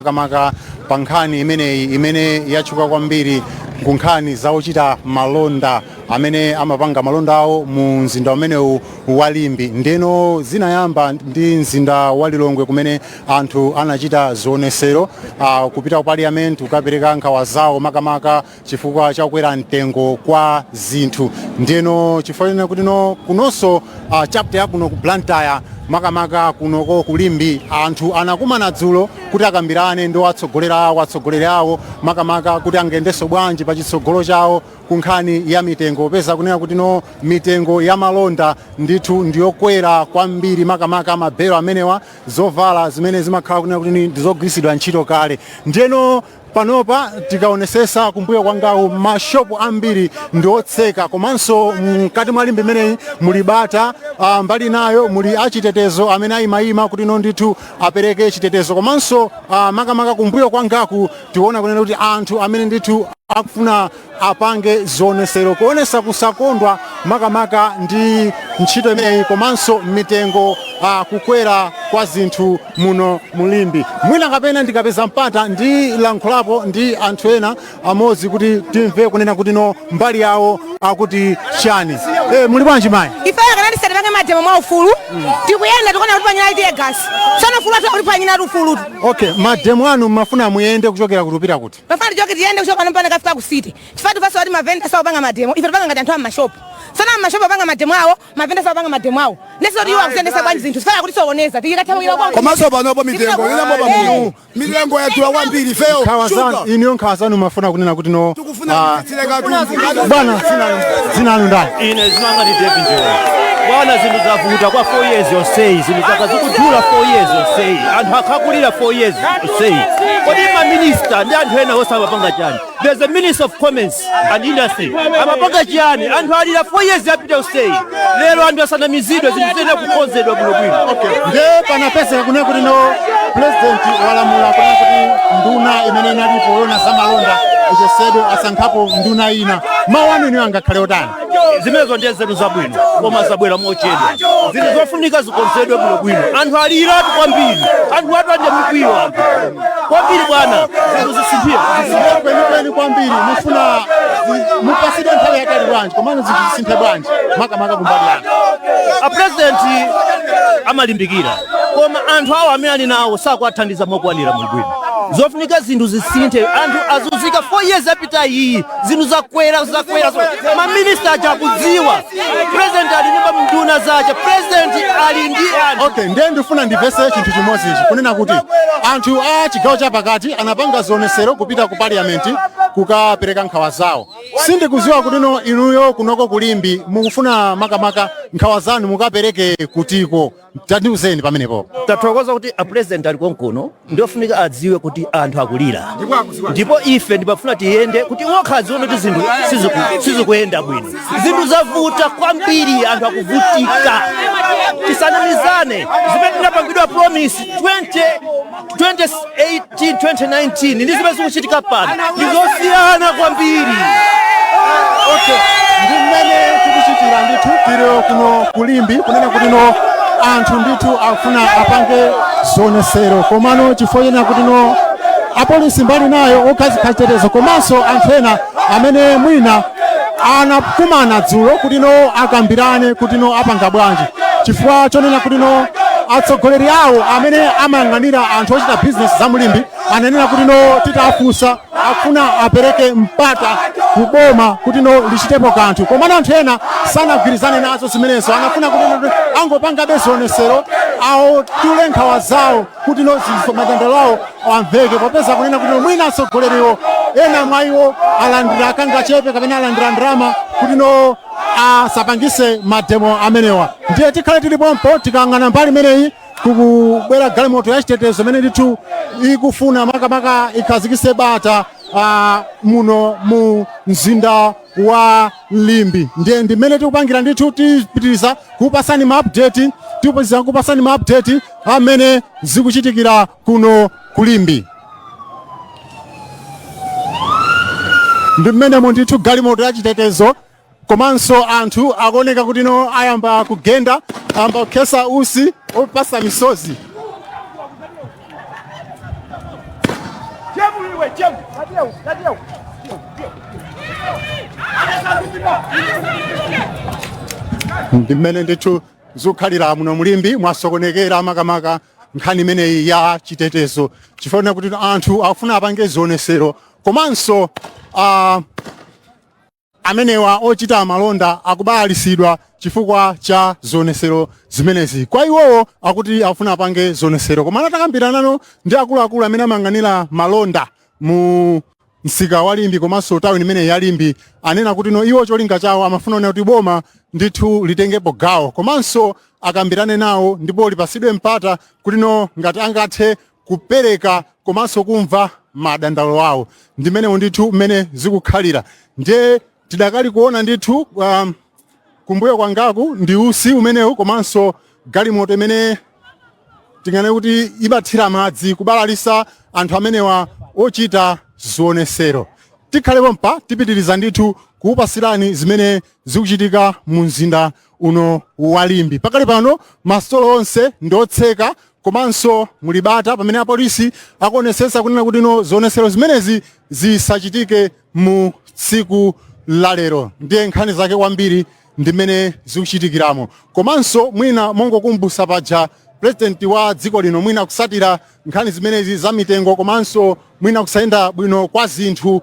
makamaka pa nkhani imeneyi imene yatchuka kwambiri ku nkhani za ochita malonda amene amapanga malonda awo mu mzinda umenewu wa Limbe ndeno zinayamba ndi mzinda wa Lilongwe kumene anthu anachita zionesero uh, kupita ku parliament kukapereka nkhawa zawo makamaka chifukwa cha kukwera mtengo kwa zinthu ndiyeno chifukwa chonena kuti no kunonso uh, chapter yakuno ku blantyre makamaka kunoko ku Limbe anthu anakumana dzulo kuti akambirane ndi atsogolera awo atsogoleri awo makamaka kuti angendenso bwanji pa chitsogolo chawo ku nkhani ya mitengo popeza kunena kuti no mitengo ya malonda ndithu ndiyokwera kwambiri makamaka mabelo amenewa zovala zimene zimakhala kunena kuti ni- ndizogwiritsidwa ntchito kale ndiyeno Panopa tikaonesesa kumbuyo kwangaku mashopu ambiri ndi otseka komanso mkati mwa Limbe imeneyi muli bata ah, mbali nayo muli achitetezo amene ayimayima kuti no ndithu apereke chitetezo komanso ah, makamaka kumbuyo kwangaku tikuona kunena kuti anthu amene ndithu akufuna apange zionesero kuonesa kusakondwa makamaka ndi ntchito imeneyi komanso mitengo uh, kukwera kwa zinthu muno mu Limbe mwina kapena ndikapeza mpata ndilankhulapo ndi anthu ena amodzi kuti timve kunena kuti no mbali yawo akuti chani e, muli bwanji mayi ife akanati tisapange mademo mwa ufulu tikuyenda tikuona kuti atiponyera teargas sono ufulu wathu kuti panyina ati ufulutu okay mademo anu mmafuna muyende kuchokera kuti kupita kuti Timafuna tichoke tiyende kuchoka pano mpaka kafika ku city. Chifukwa tu fasa oti mavenda sawa panga mademo. Ife tupanga ngati anthu a mashop. Sana mashop panga mademo awo, mavenda sawa panga mademo awo. Ndiyeso oti iwo akuyendesa bwanji zinthu. Sitifuna kutisokoneza. Tikatawira kwa. komanso panopo mitengo inambo pamulu mitengo yatsula kwambiri feyo Nkhawa zanu inuyo nkhawa zanu mmafuna kunena kuti no Tikufuna ah, Bwana zina lanu ndani? Ine zina langa ndi David Njola. Bwana zinthu zavuta kwa 4 years yonseyi zinthu zakhala zikudula 4 years yonseyi anthu akhala akulira 4 years yonseyi kodi ma minister ndi anthu ena onse amapanga chani there's a minister of commerce and industry amapanga chiyani anthu alira 4 years yapita yonseyi lero anthu asanamizidwe zinthu ziyenera kukonzedwa bwinobwino nde panapezeka kunena kuti no pulezidenti walamula kunena kuti nduna imene inalipo yona za malonda ichosedwe asankhapo nduna ina mawu anu inuyo angakhale otani zimenezo ndiye nzeru zabwino koma zabwera mochedwa zinthu zofunika zikonzedwe bwinobwino anthu aliratu kwambiri anthu athu ali ndi mikwiyo anthu kwambiri bwana zinthu zisinthire kwenikweni kwambiri mufuna zi- mupasidwe nthawi yaitali bwanji komano zinthu zingasinthe bwanji makamaka kumbali yanu apurezidenti amalimbikira koma anthu awo amene ali nawo sakuwathandiza mokwanira ndiyeno zofunika zinthu zisinthe anthu azunzika 4 years yapita iyi zinthu zakwera zakwera zakwera. maminista aja akudziwa president ali ndi nduna zake president ali ndi anthu okay ndiye ndifuna ndivese chinthu chimodzi ichi kunena kuti anthu a chigawo chapakati anapanga zionesero kupita ku parliament kukapereka nkhawa zawo sindikuziwa kutino inuyo kunoko ku Limbe mukufuna makamaka nkhawa zanu mukapereke kutiko tandiuzeni pamenepo tathokoza kuti a president ali konkuno ndiofunika adziwe kuti anthu akulira ndipo ife tikufuna tiyende kuti okha adziwe kuti zinthu siziku- sizikuyenda bwino zinthu zavuta kwambiri anthu akuvutika tisanamizane zimene tinapangidwa promise 20 2018 2019 ndi zimene zikuchitika pano ndi zosiyana kwambiri okay ndi mmene tikuchitira ndithu tiri kuno ku Limbe kunena kuti no anthu ndithu akufuna apange zionesero komano chifukwa chonena kuti no apolisi mbali nayo okhazika chitetezo komanso anthu ena amene mwina anakumana dzulo kuti no akambirane kuti no apanga bwanji chifukwa chonena kuti no atsogoleri awo amene amayang'anira anthu ochita bizinesi za mu Limbe ananena kuti no titafunsa akufuna apereke mpata kuboma kuti no lichitepo kanthu komano anthu ena sanagwirizane nazo zimenezo anafuna kuti no angopangabe zionesero awo atule nkhawa zawo kuti no madandaulo awo amveke popeza akunena kuti mwina atsogoleriwo ena mwa iwo alandira kangachepe kapena alandira ndalama kuti no asapangise mademo amenewa ndiye tikhale tili pompo tikayang'ana mbali imeneyi kukubwera galimoto ya chitetezo imene ndithu ikufuna makamaka ikhazikise bata ah, muno mu mzinda wa Limbe ndiye ndimene tikupangira ndithu tipitiriza kupasani maupdate tipitiriza kupasani maupdate a mmene zikuchitikira kuno ku Limbe ndi mmenemo ndithu galimoto ya chitetezo komanso anthu akuoneka kuti no ayamba kugenda ayamba kukhesa usi opasa misozi ndi mmene ndithu zikukhalira muno mu Limbe mwasokonekera makamaka nkhani imeneyi ya chitetezo chifukwa kuti anthu akufuna apange zionesero komanso ah, amenewa ochita malonda akubalalisidwa chifukwa cha zionesero zimenezi kwa iwowo akuti akufuna apange zionesero koma atakambirana ndi akuluakulu amene amayang'anira malonda mu msika wa Limbe komanso tawuni imeneyi ya Limbe anena kuti no iwo cholinga chawo amafuna kuona kuti boma ndithu litengepo gawo komanso akambirane nawo ndipo lipasidwe mpata kuti no ngati angathe kupereka komanso kumva madandaulo awo ndimenemo ndithu mmene zikukhalira ndiye Tidakali kuona ndithu um, kumbuyo kwangaku ndi usi umenewu komanso galimoto imene tinganene kuti imathira madzi kubalalisa anthu amenewa ochita zionesero. Tikhale pompa tipitiriza ndithu kukupasirani zimene zikuchitika mu mzinda uno wa Limbe pakali pano masitolo onse ndiotseka komanso muli bata pamene apolisi akuonesesa kunena kuti no zionesero zimenezi zisachitike mu tsiku la lero ndiye nkhani zake kwambiri ndimene zikuchitikiramo komanso mwina mongokumbusa paja president wa dziko lino mwina kusatira nkhani zimenezi za mitengo komanso mwina kusayenda bwino kwa zinthu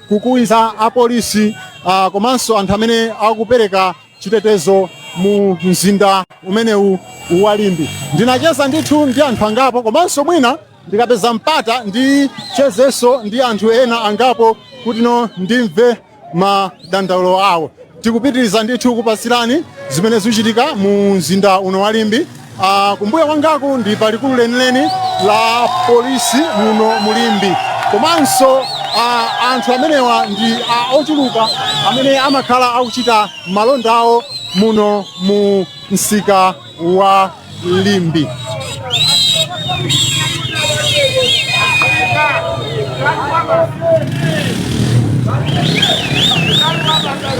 kukwiyitsa apolisi uh, komanso anthu amene akupereka chitetezo mu mzinda umenewu wa Limbe. Ndinacheza ndithu ndi anthu angapo komanso mwina ndikapeza mpata ndichezenso ndi anthu ena angapo kuti no ndimve madandaulo awo. tikupitiriza ndithu kukupatsirani zimene zikuchitika mu mzinda uno wa Limbe Ah, kumbuyo kwangaku ndi pa likulu lenileni la polisi muno mu Limbe komanso ah, anthu amenewa ndi ah, ochuluka amene amakhala akuchita malonda awo muno mu msika wa Limbe.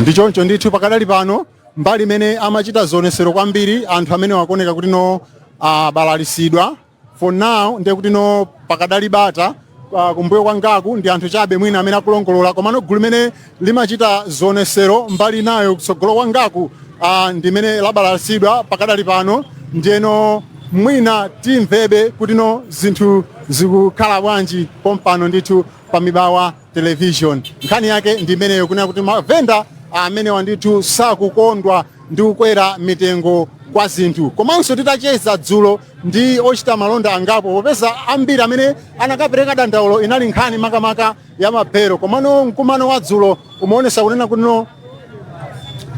ndi choncho ndithu pakadali pano mbali imene amachita zionesero kwambiri anthu amenewa akuoneka kuti no abalalisidwa for now ndiye kuti no pakadali bata ah, kumbuyo kwangaku ndi anthu chabe mwina amene akulongolola komano gulu limene limachita zionesero mbali inayo kutsogolo kwangaku ah, ndi limene labalalisidwa pakadali pano ndiyeno mwina timvebe kuti no zinthu zikukhala bwanji pompano ndithu pa Mibawa Television nkhani yake ndi imeneyo kunena kuti mavenda amenewa ndithu sakukondwa ndi kukwera mitengo kwa zinthu komanso titacheza dzulo ndi ochita malonda angapo popeza ambiri amene anakapereka dandaulo inali nkhani makamaka ya mabelo komano mkumano wa dzulo umaonesa kunena kutino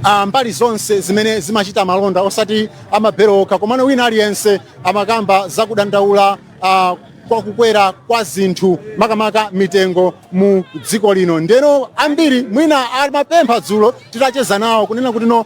ah, mbali zonse zimene zimachita malonda osati a mabelo okha komano wina aliyense amakamba za kudandaula ah, kwa kukwera kwa zinthu makamaka mitengo mu dziko lino ndeno ambiri mwina amapempha dzulo titacheza nawo kunena kutino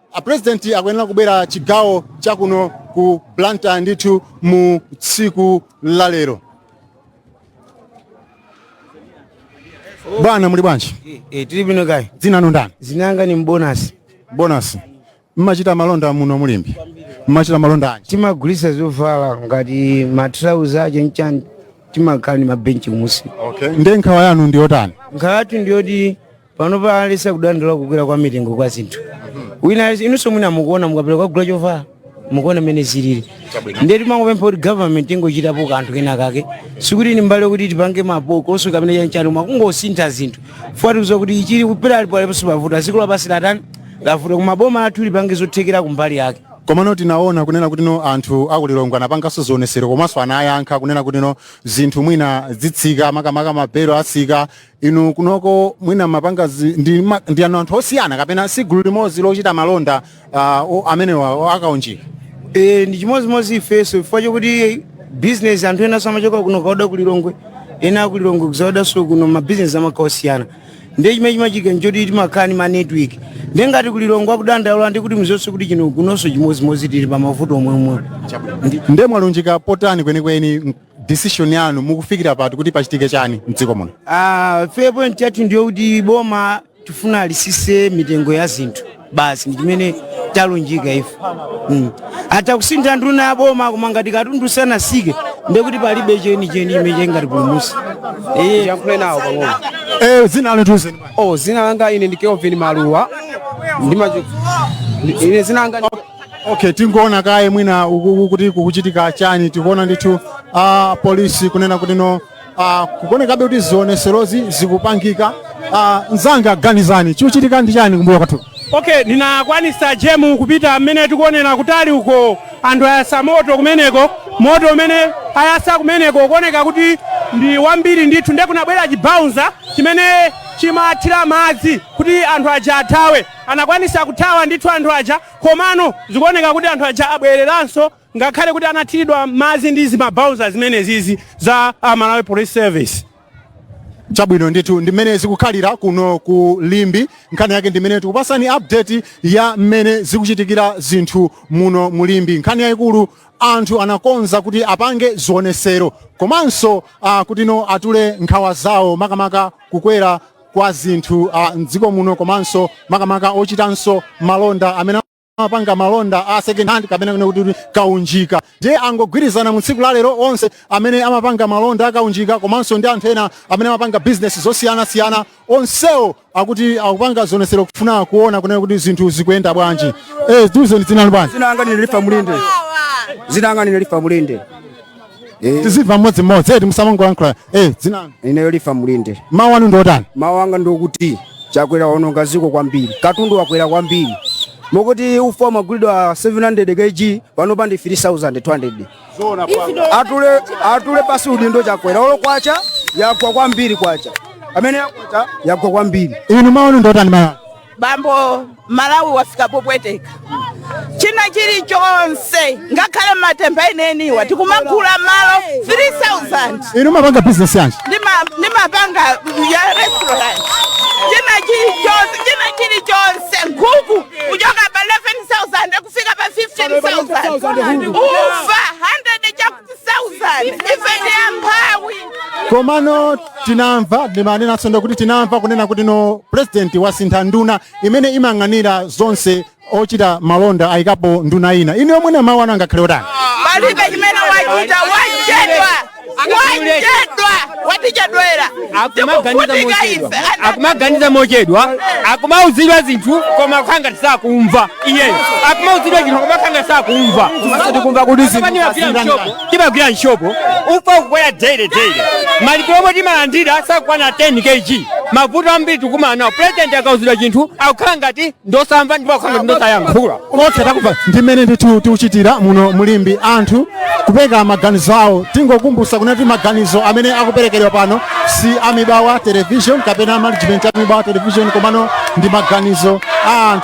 A president akuyenera kubwera chigawo chakuno ku Blantyre ndithu mu tsiku la lero. Bwana muli bwanji? Eh, tili bwino kaya. Dzina lanu ndani? Zina langa ni Bonasi. Bonasi. Mmachita malonda muno mu Limbe. Mmachita malonda anji. Timagulisa zovala ngati matrauza aje nchani timakhala ni mabenchi kumusi. Okay. Nde nkhawa yanu ndi yotani? Nkhawa yathu ndiyoti pano palibe sakudandaula kukwera kwa mitengo kwa zinthu wina aliyense- inunso mwina mukuona mukapita kwagula chovala mukuona mmene zilili ndiye timangopempha kuti government ingochitapo kanthu kena kake sikuti ni mbale yokuti tipange mapokoso kapena chanchani koma kungosintha zinthu fuatikiza kuti ichili kupera alipo aliponso pavuta dziko lapansi latani lavuta koma boma lathu lipange zothekera kumbali yake komano tinaona kunena kuti no anthu akulilongwe anapanganso zionesero komanso anayankha kunena kuti no zinthu mwina zitsika makamaka mabelo atsika Inu kunoko mwina mapanga zi- ndi, ma, ndi anu anthu osiyana kapena si gulu limodzi lochita malonda uh, o- amenewa o- akaunjika Eh, ndi chimodzimodzi ifeso chifukwa chokuti bizinesi anthu enaso amachoka kuno kaoda ku lilongwe ena aku lilongwe kuzaodanso kuno mabizinesi amakhala osiyana ndiye chimene chimachitika nchoti timakhala ndi manetwork ndiye ngati ku lilongwe akudandaula ndiye kuti mzonse kuti chino kunonso chimodzimodzi tili pa mavuto omweomwe nde mwalunjika potani kwenikweni decision yanu mukufikira pati kuti pachitike chani mdziko muno Ah, ife point yathu ndiyo kuti boma tifuna lisise mitengo ya zinthu basi ndi chimene talunjika ife mm. atakusintha nduna ya boma koma ngati katundu sanasike ndiye kuti palibe chenicheni chimene chingatipulumutse Eh, yankhule nawo pang'ono eh zina lanu tiuzeni bwana. oh zina langa ine ndi Kelvin Maluwa ndimacho ine zina langa ndi- okay tingoona kaye mwina uko kuti kukuchitika chani tikuona ndithu a polisi kunena kuti no ah, kukuonekabe kuti zioneserozi zikupangika Ah, mzanga Ganizani chikuchitika ndi chani kumbuyo kwathu okay ndinakwanisa Jemu kupita mmene tikuonera kutali uko anthu ayasa moto kumeneko moto umene ayasa kumeneko kuoneka kuti ndi wambiri ndithu ndiye kunabwera chibouncer chimene chimathira madzi kuti anthu aja athawe Anakwanisa kuthawa ndithu anthu aja komano zikuoneka kuti anthu aja abwereranso ngakhale kuti anathilidwa madzi ndi zimabouncer zimenezizi za a Malawi Police Service. Chabwino ndithu ndi mmene zikukhalira kuno ku Limbe. Nkhani yake ndi mmene tikupasani update ya mmene zikuchitikira zinthu muno mu Limbe. Nkhani yayikulu anthu anakonza kuti apange zionesero komanso uh, ah, kuti no atule nkhawa zawo makamaka kukwera kwa zinthu uh, mdziko muno komanso makamaka ochitanso malonda amene amapanga malonda a second hand kapena kunena kuti kaunjika ndiye angogwirizana mu tsiku la lero onse amene amapanga malonda akaunjika komanso ndi anthu ena amene amapanga bizinesi zosiyanasiyana onsewo akuti akupanga zionetsero kufuna kuona kunena kuti zinthu zikuyenda bwanji eh, tiuzeni dzina lanu ndani dzina langa ndi Lifa Mulinde dzina langa ndi Lifa Mulinde Eh, tizimva mmodzimodzi eti musamangolankhula eh dzina lanu ineyo Lifa Mulinde mawu anu ndi otani mawu anga ndi okuti Chakwera waononga dziko kwambiri katundu wakwera kwambiri mokuti ufa umagulidwa 700 kg pano pa ndi 3200 atule atule pansi udindo Chakwera olo kwacha yagwa kwambiri kwacha amene yakwacha yagwa kwambiri inu mawu anu ndi otani mawu anu? bambo Malawi wafika popweteka china chilichonse ngakhale matemba eniwa tikumagula malo 3000 inu mumapanga business yanji Ndima- ndimapanga ya restaurant china chilichonse china chilichonse nkhuku kuchoka pa 11000 kufika pa 15000 ufa 100 chakudya komano tinamva ndimanenatso ndo kuti tinamva kunena kuti no president wasintha nduna imene imayang'anira zonse ochita malonda ayikapo nduna ina ndiye pomwepa mawu anu angakhale otani palibe chimene wachita wachedwa wachedwa watichedwera akumaganiza mochedwa akumaganiza mochedwa akumauzidwa zinthu koma kukhala ngati sakumva iyeyo akumauzidwa zinthu koma kukhala ngati sakumva tikumva kuti timagwira m'shopu ufa kukwera daily daily malipiro omwe timalandira sakukwana 10 kg mavuto ambiri tikukumana nawo president akauzidwa chinthu akukhala ngati ndi osamva ndipo akukhala ngati ndi osayankhula okay takumva ndi mmene ndithu zikuchitikira muno mu Limbe anthu kupereka maganizo awo tingokumbutsa kunena kuti maganizo amene akuperekedwa pano si a Mibawa television kapena management ya Mibawa television komano ndi maganizo a anthu